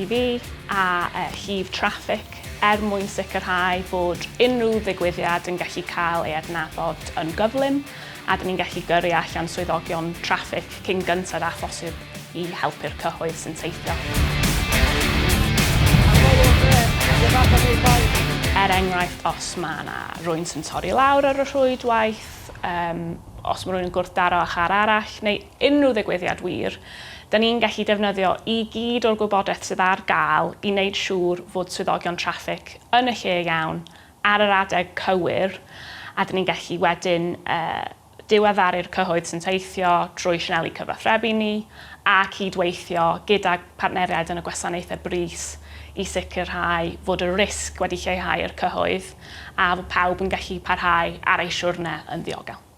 TV a llif traffig er mwyn sicrhau bod unrhyw ddigwyddiad yn gallu cael ei adnabod yn gyflym a dyn ni'n gallu gyrru allan swyddogion traffig cyn gynted â phosib i helpu'r cyhoedd sy'n teithio. Er enghraifft, os mae yna rwy'n sy'n torri lawr ar y rhwydwaith, um, os mae rwy'n yn gwrthdaro â char arall, neu unrhyw ddigwyddiad wir, da ni'n gallu defnyddio i gyd o'r gwybodaeth sydd ar gael i wneud siŵr fod swyddogion traffig yn y lle iawn ar yr adeg cywir a da ni'n gallu wedyn diweddaru'r cyhoedd sy'n teithio drwy sianeli cyfathrebu ni a cyd-weithio gydag partneriaid yn y gwasanaethau brys i sicrhau fod y risg wedi lleihau i'r cyhoedd a fod pawb yn gallu parhau ar eu siwrne yn ddiogel.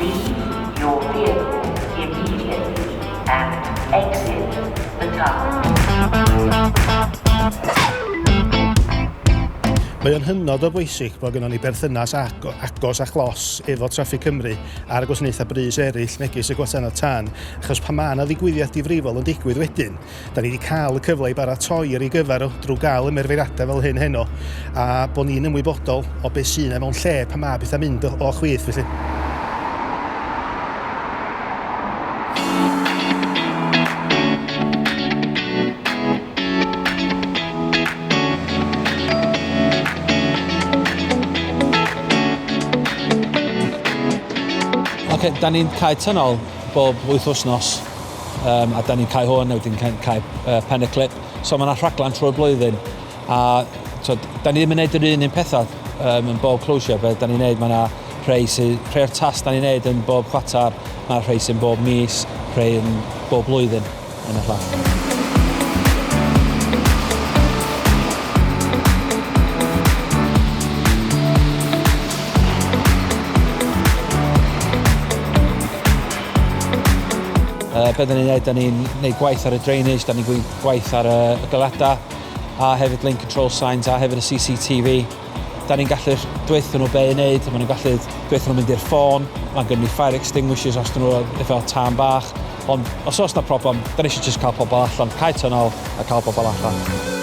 Leave your vehicle immediately and exit the car. Mae o'n hynod o bwysig bod gynnon ni berthynas agos a chlos efo Traffig Cymru a'r gwasanaethau brys eraill megis y Gwasanaeth Tân achos pan mae 'na ddigwyddiad difrifol yn digwydd wedyn, Da ni wedi cael y cyfle i baratoi ar ei gyfer o drwy gael ymerfeiriadau fel hyn heno a bod ni'n ymwybodol o beth sy'n e mewn lle pan mae bethau mynd o, o chwith felly. Da ni'n cael tynol bob wythnosnos. um, a da ni'n cael hwn, a wedyn cael, cael uh, pen y clip. So mae yna rhaglen trwy'r blwyddyn, a so, da ni ddim yn gwneud yr un un pethau um, yn bob closure, beth da ni'n gwneud, mae yna rhai sy'n, rhai o'r tas da ni'n gwneud yn bob chwatar, mae yna rhai sy'n bob mis, rhai yn bob blwyddyn yn y fflat. Uh, be da ni'n gwneud, da ni'n gwneud gwaith ar y drainage, da ni'n gwneud gwaith ar y, y galadau, a hefyd lane control signs, a hefyd y CCTV. Da ni'n gallu dweithio nhw be i wneud, maen nhw'n gallu dweithio nhw'n mynd i'r ffôn, mae'n gynnu fire extinguishers os dyn nhw efo tân bach, ond os oes na problem, da ni eisiau just cael pobl allan, cael tynol a cael pobl allan.